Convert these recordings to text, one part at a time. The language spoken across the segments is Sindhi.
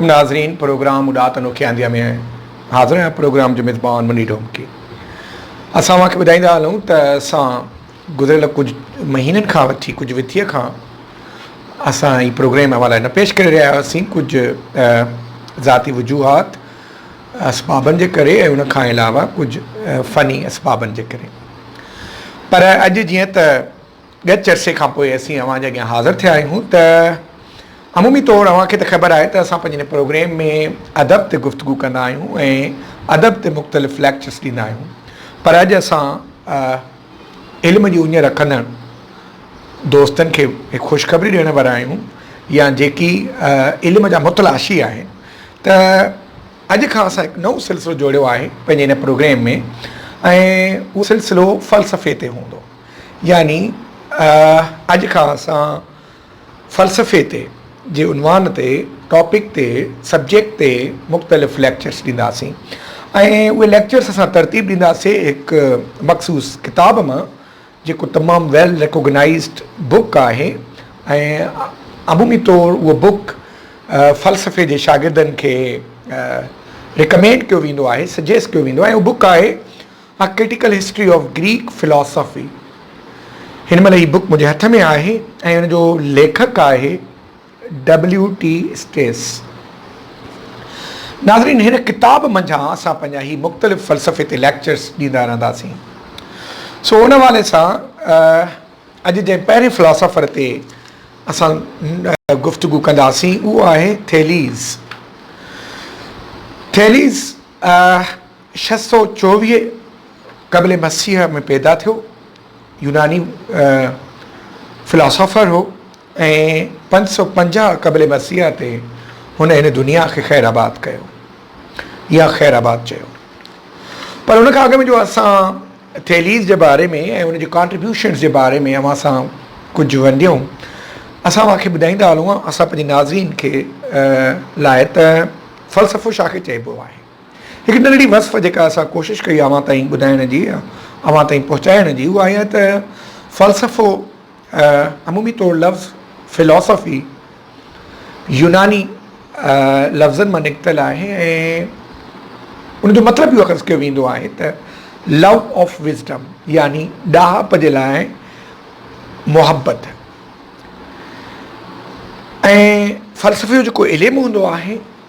ناظرين پروگرام اڏات انوکي آنديا ۾ حاضر آهيان پروگرام جو ميزبان مني ڊومڪي اسان اوهان کي ٻڌائيندا هلون ته اسان گذريل ڪجهه مهينن کان وٺي ڪجهه وٿيء کان اسان هي پروگرام اوهان لاء نه پيش ڪري رهيا هئاسين ڪجهه ذاتي وجوهات اسبابن جي ڪري ۽ ان کان علاوه ڪجهه فني اسبابن جي ڪري پر اڄ جيئن ته ڳچ عرصي کان پوء اسين اوهان جي اڳيان حاضر ٿيا آهيون ته عمومي طور اوهان کي ته خبر آهي ته اسان پنهنجي هن پروگريم ۾ ادب تي گفتگو ڪندا آهيون ۽ ادب تي مختلف ليڪچرس ڏيندا آهيون پر اڄ اسان علم جي اڃ رکندڙ دوستن کي هڪ خوشخبري ڏيڻ وارا آهيون يا جيڪي علم جا متلاشي آهن ته اڄ کان اسان هڪ نئون سلسلو جوڙيو آهي پنهنجي هن پروگريم ۾ ۽ اهو سلسلو فلسفي تي هوندو يعني اڄ کان اسان فلسفي تي جي عنوان تي ٽاپڪ تي سبجيڪٽ تي مختلف ليڪچرس ڏينداسين ۽ اهي ليڪچرس اسان ترتيب ڏينداسين هڪ مخصوص ڪتاب مان جيڪو تمام ويل ريڪوگنائزڊ بڪ آهي ۽ عمومي طور اهو بڪ فلسفي جي شاگردن کي ريڪمينڊ ڪيو ويندو آهي سجيسٽ ڪيو ويندو آهي ۽ اهو بڪ آهي A Critical History of Greek Philosophy هن مهل هي بوڪ منهنجي هٿ ۾ آهي ۽ ان جو ليکڪ آهي ڊبليو ٽي اسٽيس. ناظرين هن ڪتاب منجهان اسان پنهنجا هي مختلف فلسفي تي ليڪچرس ڏيندا رهنداسين سو ان حوالي سان اڄ جنهن پهرين فلاسافر تي اسان گفتگو ڪنداسين اهو آهي ٿيليز ٿيليز ڇهه سؤ چوويهه قبل مسيح ۾ پيدا ٿيو، يوناني فلاسافر هو ۽ پنج سؤ پنجاهه قبل مسيح تي هن هن دنيا کي خير آباد ڪيو يا خير آباد چيو. پر ان کان اڳ ۾ جو اسان ٿيليز جي باري ۾ ۽ ان جي ڪانٽريبيوشنز جي باري ۾ اوهان سان ڪجهه ونڊيون اسان اوهان کي ٻڌائيندا هلون ها اسان پنهنجي ناظرين کي لاء ته فلسفو ڇا کي چئبو آهي. هڪ ننڍڙي وصف جيڪا اسان ڪوشش ڪئي اوهان تائين ٻڌائڻ جي يا اوهان تائين پهچائڻ جي اها اها ته فلسفو عمومي طور لفظ Philosophy يوناني لفظن مان نڪتل آهي ۽ ان جو مطلب اهو اخذ ڪيو ويندو آهي ته لو آف وزڊم يعني ڏاهپ جي لاء محبت ۽ فلسفي جو جيڪو علم هوندو آهي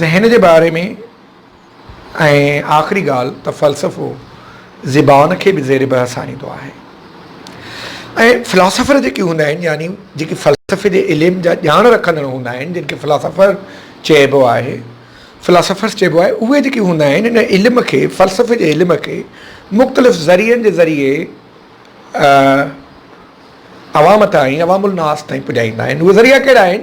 ذهن جي باري ۾ ۽ آخري ڳالهه ته فلسفو زبان کي به زير بحث آڻيندو آهي ۽ فلاسافر جيڪي هوندا آهن يعني جيڪي فلسفي جي علم جا ڄاڻ رکندڙ هوندا آهن جن کي فلاسافر چئبو آهي فلاسافرس چئبو آهي اهي جيڪي هوندا آهن ان علم کي فلسفي جي علم کي مختلف ذريعن جي ذريعي عوام تائين عوام الناس تائين پڄائيندا آهن اهي ذريعا ڪهڙا آهن